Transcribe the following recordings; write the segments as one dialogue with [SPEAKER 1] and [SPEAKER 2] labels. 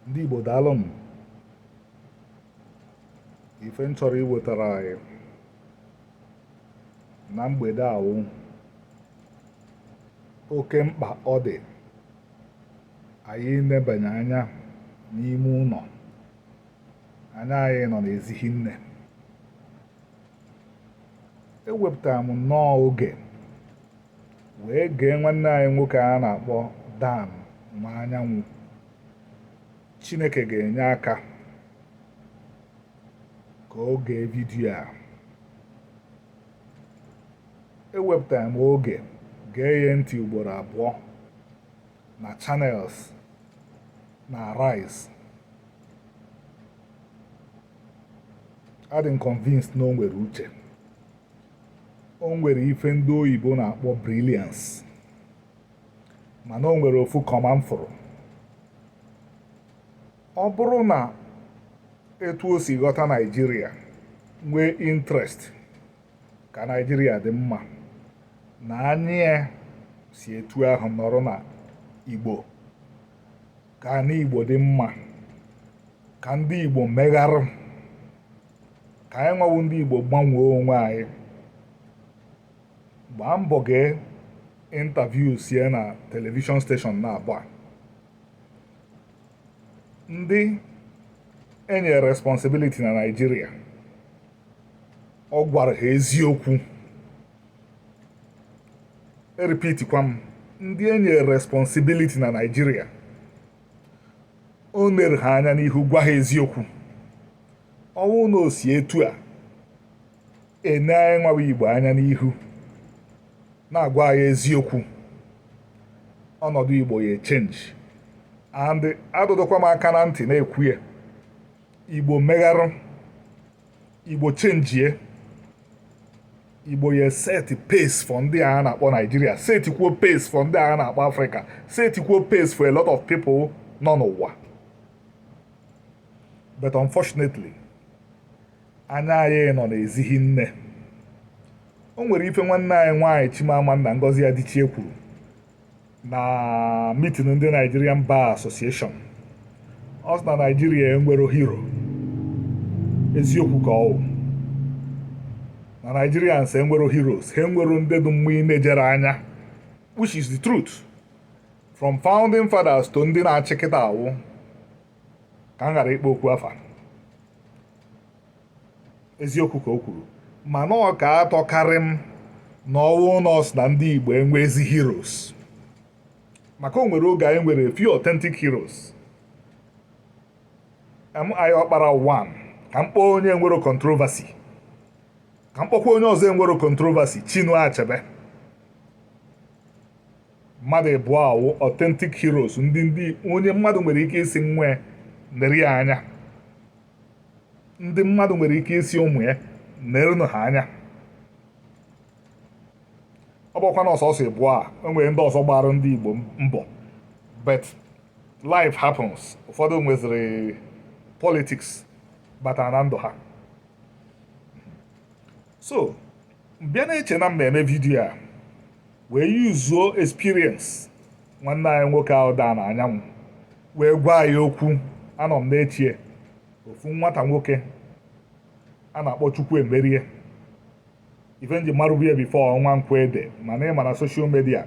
[SPEAKER 1] ndị Igbo daalụ m ife m chọrọ iwetara anyị na mgbede a wụ oke mkpa ọ dị anyị nebanye anya n'ime ụnọ anya anyị nọ n'ezi hi nne ewepụtara m nnọọ oge wee gee nwanne anyị nwoke a na-akpọ Dan Nwanyanwu Chineke ga-enye aka ka o gee vidiyo a ewepụtara m oge gee ya ntị ugboro abụọ na Channels na Arise adị m convinced na o nwere uche o nwere ife ndị oyibo na-akpọ brilliance mana o nwere ofu kọma m fụrụ ọ bụrụ na etu o si ghọta Naịjirịa nwee interest ka Naịjirịa dị mma na anyị si etu ahụ nọrọ na Igbo ka anị Igbo dị mma ka ndị Igbo megharụ ka anyị nwa wụ ndị Igbo gbanwee onwe anyị gbaa mbọ gee interviews ya na telivishọn steshọn naabọ a ndị enyere responsibility na Naịjirịa ọ gwara ha eziokwu eripitikwa m ndị enye responsibility na Naịjirịa o nere ha anya n'ihu gwa ha eziokwu ọ wụrụ na o si etu a ene anyị nwa wụ Igbo anya n'ihu na-agwa anyị eziokwu ọnọdụ Igbo ya echenji and adụdụkwa m aka na ntị na-ekwu ya Igbo megharụ Igbo chenjie Igbo ya set pace for ndị a na-akpọ Naịjirịa setikwuo pace for ndị a na-akpọ Afrịka setikwuo pace for a lot of people nọ n'ụwa but unfortunately anya anyị nọ n'ezi hi nne o nwere ife nwanne anyị nwaanyị Chimamanda Ngozi Adichie kwuru na mitin ndị Nigerian Bar Association ọ sị na Naijiria enwero hero eziokwu ka ọ wụ na Nigerians enwero heroes ha enwero ndị dị mma inejere anya which is the truth from founding fathers to ndị na-achị kịtaa wụ ka m ghara ịkpọ okwu afa eziokwu ka o kwuru mana ọ ka atọkarị m na ọ wụ nọọ sị na ndị Igbo enwezi heroes maka o nwere oge anyị nwere few authentic heroes MI Ọkpara 1 ka m kpọọ onye enwero controversy ka m kpọkwa onye ọzọ enwero controversy Chinua Achebe mmadụ ịbụọ a wụ authentic heroes ndị ndị onye mmadụ nwere ike ịsị nwa ya nere ya anya ndị mmadụ nwere ike ịsị ụmụ ya nerenụ ha anya ọ bụkwa na ọ sọsọ ịbụọ a e nwere ndị ọzọ gbaara ndị Igbo mbọ but life happens ụfọdụ nweziri politics batara na ndụ ha so m bịa na-eche na m na-eme vidiyo a wee yuzuo experience nwanne anyị nwoke ahụ Dan Nwanyanwụ wee gwa anyị okwu anọ m na-eche ofu nwata nwoke a na-akpọ Chukwuemerie ife m ji marụbu ya before ọ Nwankwo Ede mana ị ma na social media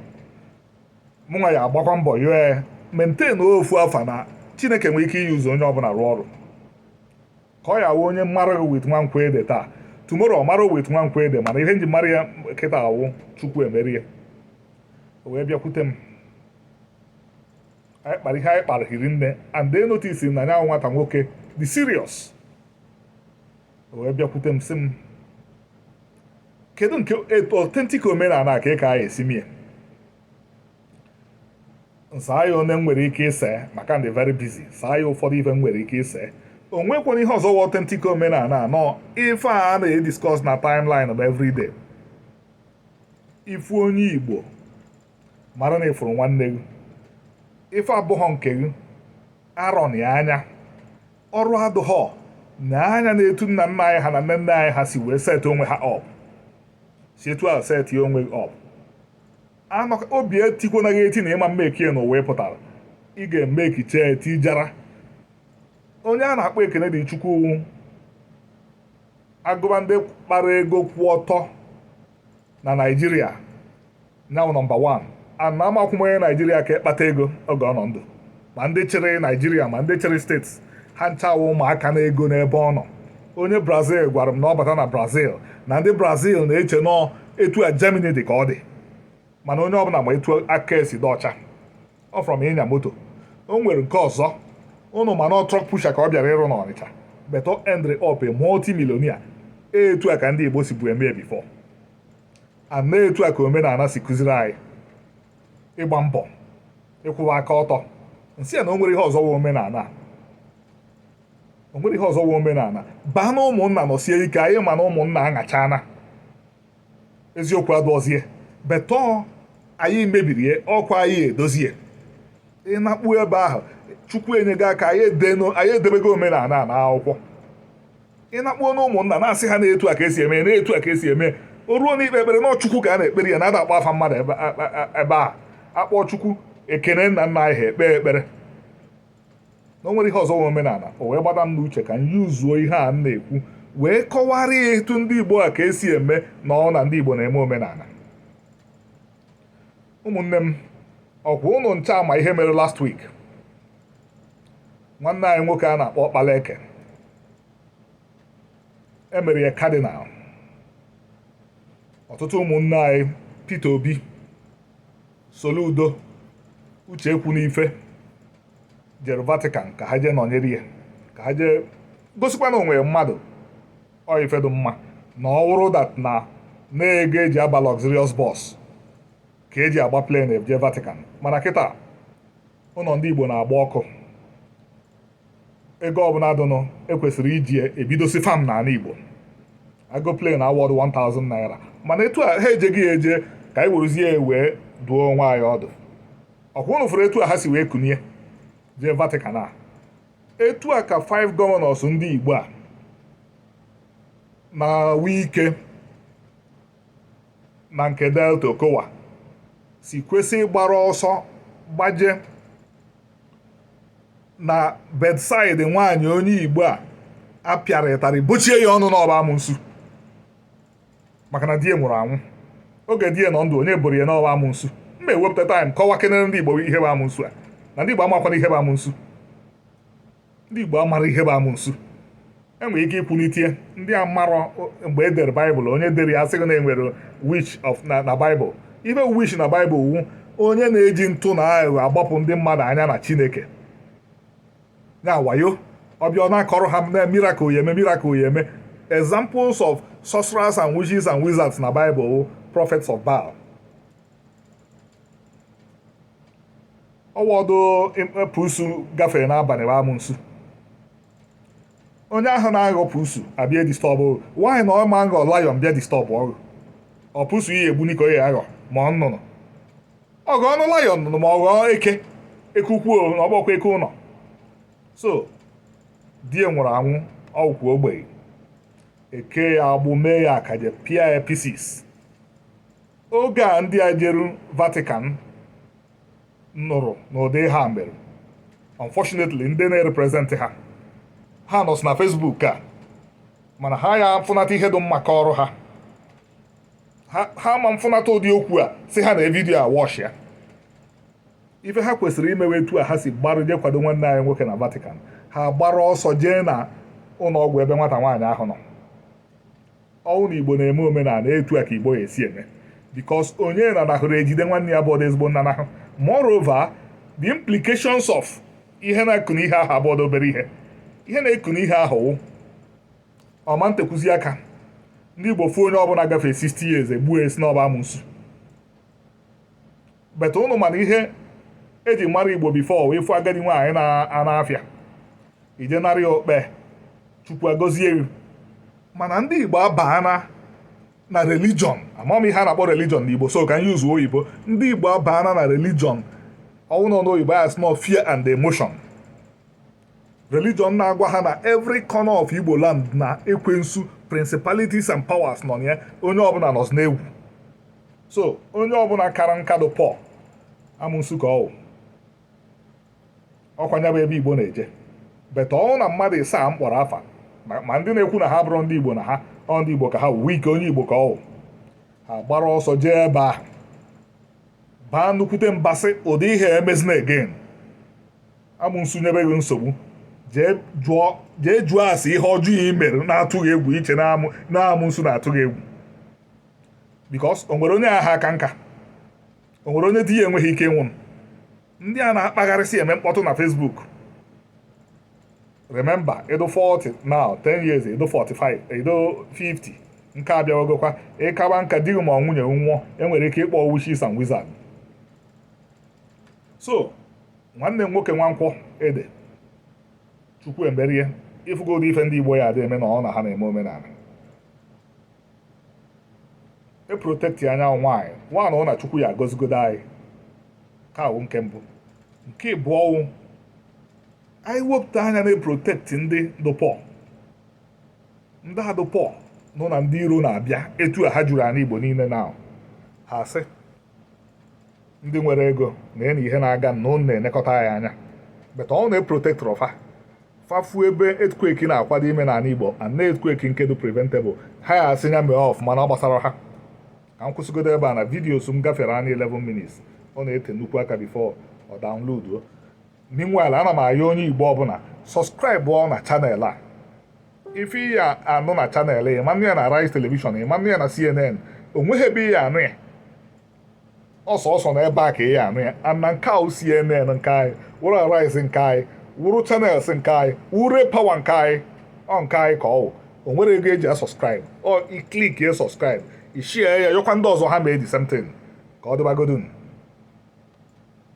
[SPEAKER 1] mụnwa ya agbakwa mbọ ya maintain ofu afa na Chineke nwere ike iyuzu onye ọbụla rụọ ọrụ ka ọ ya wụ onye mara gị with nwankwo ede taa tomorrow ọ mara with nwankwo ede mana ihe m ji mara ya kịta awụ Chukwuemerie o wee bịakwute m anyị kpara ihe anyị kpara hiri nne and they notice na nya nwata nwoke dị serious o wee bịakwute m sị m kedu nke authentic omenala ka ị ka anyị esi mie saa ya one m nwere ike ịsa maka m dị very busy saa ya ụfọdụ ife m nwere ike ịsa o nwekwara ihe ọzọ wụ authentic omenala na ọ ife a na-ediscuss na timeline of everyday ife onye igbo mara na ị fụrụ nwanne gị ife abụghọ nke gị arọ na anya ọrụ adụghọ na anya na-etu nna nna anyị ha na nne nne anyị ha si wee set onwe ha up si etu a set onwe gị up anọka obi etikwana gị eti na ị ma emekie n'ụwa ị pụtara ị ga-emeki chetị jara onye a na-akpọ Ekene Dili Chukwu a gụba ndị kpara ego kwụ ọtọ na naijiria nya wụ nọmba 1 and amakwọ m onye naijiria ka ya kpata ego oge ọ nọ ndụ ma ndị chịrị naijiria ma ndị chịrị steeti ha ncha wụ ụmụaka na ego n'ebe ọ nọ onye brazil gwara m na ọ bata na brazil na ndị brazil na-eche na ọ etu a germany dị ka ọ dị mana onye ọbụla ma etu aka esi dị ọcha ọ from ịnya moto o nwere nke ọzọ ụnụ ma na ọ truck pusher ka ọ bịara ịrụ n'ọnịcha but o endịrị up multimillionaire etu a ka ndị igbo sibu eme before and etu a ka omenala si kụziri anyị ịgba mbọ ịkwụwa aka ọtọ m sị ya na o nwere ihe ọzọ wụ omenala o nwere ihe ọzọ wụ omenala baa na ụmụnna nọsie ike anyị ma na ụmụnna aṅachana eziokwu adụọzie but ọ anyị mebiri ya ọkwa anyị edozie ị nakpu ebe ahụ chukwu enyego aka anyị edebego omenala na akwụkwọ ị nakpuo na ụmụnna na-asị ha na etu a ka esi eme na etu a ka esi eme o ruo na ikpe ekpere na ọ chukwu ka a na-ekpere ya na ada akpọ afa mmadụ ebe a akpọ chukwu ekene nna nna anyị ha ekpe ekpere na o nwere ihe ọzọ wụ omenala o wee gbada m n'uche ka m yuzuo ihe a m na-ekwu wee kọwara ya etu ndị igbo a ka esi eme na ọ na ndị igbo na-eme omenala ụmụnne m ọkwa ụnụ ncha ma ihe mere last week nwanne anyị nwoke a na-akpọ Okpaleke emere ya cardinal ọtụtụ ụmụnne anyị Peter Obi Soludo Uche Ekwunife jere Vatican ka ha jee nọnyere ya ka ha jee gosikwa na o nwere mmadụ ọ ife dụ mma na ọ wụrọ that na na ego eji aba luxurious bus ka eji agba plane eje Vatican mana kịta ụlọ ndị Igbo na-agba ọkụ ego ọbụla dụnụ ekwesịrị iji ebidosi farm n'ala Igbo ego plane awọdụ 1000 naira mana etu a ha ejeghị ya eje ka anyị werezie ya wee duo onwe anyị ọdụ ọkwa ụnụ fụrụ etu a ha si wee kunie jee Vatican a etu a ka 5 governors ndị Igbo a na Wike na nke Delta Okowa si kwesị ịgbara ọsọ gbaje na bedside nwaanyị onye igbo a a pịara ịtarị bochie ya ọnụ na ọ bụ amụnsu maka na di ya nwụrụ anwụ oge di ya nọ ndụ onye boro ya na ọ bụ amụnsu m ma ewepụta time kọwakenere ndị igbo ihe bụ amụnsu a na ndị igbo amakwana ihe bụ amụnsu ndị Igbo amarọ ihe bụ amụnsu enwere ike ikwulite ndị amarọ mgbe e dere baịbụl onye dere ya a sị gị na enwere witch na baịbụl ife witch na baịbụl wụ onye na-eji ntụ na aghụghọ agbapụ ndị mmadụ anya na chineke ya wayo ọ bịa ọ na-akọrọ ha na miracle ya eme miracle ya eme examples of sorcerers and witches and wizards na baịbụl prophets of Baal ọ wọdụ pusu gafere n'abalị bụ amụnsu onye ahụ na-aghọ pusu abịa disturb why na ọ ma nghọ lion bịa disturb ọ gị ọ pusu i ye egbuni ka ọ ya aghọ ma ọ nnụnụ ọ ghọọnụ lion nụnụ ma ọ ghọọ eke eke ukwu na ọ bọkwa eke ụlọ so di ya nwụrụ anwụ ọ wụkwuo ogbenye ekee ya agbụ mee ya akaje pịa ya pieces oge a ndị a jeru Vatican nụrụ n'ụdị ihe a mere unfortunately ndị na-erepresent ha ha nọsị na Facebook a mana ha ya mfụnata ihe dị mma kọọrọ ha ha ma mfụnata ụdị okwu a si ha na vidiyo a watch ya ife ha kwesịrị imewe etu a ha si gbara je kwado nwanne anyị nwoke na Vatican ha gbara ọsọ jee na ụlọ ọgwụ ebe nwata nwaanyị ahụ nọ ọ wụ na igbo na-eme omenala etu a ka igbo ya esi eme because onye nanahụrụ ejide nwanne ya abụọdụ ezigbo nnanahụ moreover the implications of ihe na-ekụ n'ihe ahụ abụọdụ obere ihe ihe na-ekụ n'ihe ahụ wụ ọ ma ntekwuzi aka ndị igbo fụ onye ọbụla gafee 60 years e gbuo a sị na ọ bụ amụnsu but ụnụ ma na ihe e ji mara igbo before ị fụ agadi nwaanyị na-ana afịa ị je nara ya okpe chukwu agozie gị mana ndị igbo abaana na religion amaọ m ihe a na-akpọ religion na igbo so ka m yuzuo oyibo ndị igbo abaana na religion ọ wụ ndị oyibo ya sị fear and emotion religion na-agwa ha na every corner of Igbo land na ekwensu principalities and powers nọ na ya onye ọbụla nọzi n'egwu so onye ọbụla kara nka dụ poor amụnsu ka ọ wụ ọ kwa nya bụ ebe Igbo na-eje but ọ wụ na mmadụ ịsaa m kpọrọ afa ma ndị na-ekwu na ha abụrọ ndị Igbo na ha ọ ndị Igbo ka ha wụ Wike onye Igbo ka ọ wụ ha gbara ọsọ jee ebe ahụ baa nnukwute mba sị ụdị ihe emezina again amụnsu nyebe gị nsogbu jee jụọ ase ihe ọjọọ ị mere na-atụ gị egwu i che na amụnsu na-atụ gị egwu because o nwere onye aha aka nka o nwere onye di ya enweghị ike ịnwụ ndị a na-akpagharịsị eme mkpọtụ na Facebook remember ị dụ 40 now 10 years ị dụ 45 ị dụ 50 nka abịawagokwa ị kaba nka di gị ma ọ nwunye nwụọ e nwere ike ịkpọ witches and wizard so nwanne m nwoke nwankwọ ede chukwuemerie ị fụgo ụdị ife ndị igbo ya adị eme na ọ na ha na-eme omenala eprotekti nya wụ nwaanyị one wụ na chukwu ya agọzigodo anyị nke a wụ nke mbụ nke ịbụọ wụ anyị wepụta anya na-eprotekti ndị dụ poor ndị a dụ poor nọ na ndị iro na-abịa etu a ha juru anị igbo niile na ha sị ndị nwere ego na nee ihe na-aga na ụnụ na-elekọta anyị anya but ọ wụ na eprotektirọ fa fa fụ ebe earthquake na-akwado ime n'anị Igbo and na earthquake nke dụ preventable ha ya asị nya mee ọfụma na ọ gbasara ha ka m kwụsịgodo ebe a na videos m gafere anya 11 minutes ọ na-ete nnukwu aka before ọ daunloduo meanwhile ana m ayọ onye Igbo ọbụla sọskraịbụọ na channel a ife ị ya-anụ na chanel ya ị ma anụ ya na Arise telivishọn ị ma anụ ya na CNN o nweghị ebe ị ya-anụ ya ọ sọọsọ na ebe a ka ị ya-anụ ya ana nke a wụ CNN nke anyị wụrụ Arise nke anyị wụrụ chanels nke anyị wụrụ pawa nke anyị ọ nke anyị ka ọ wụ o nwere ego eji asọskraịb ọ ị klik ya sọskraịb ị share ya yọkwa ndị ọzọ ha mee the same thing ka ọ dịbagodun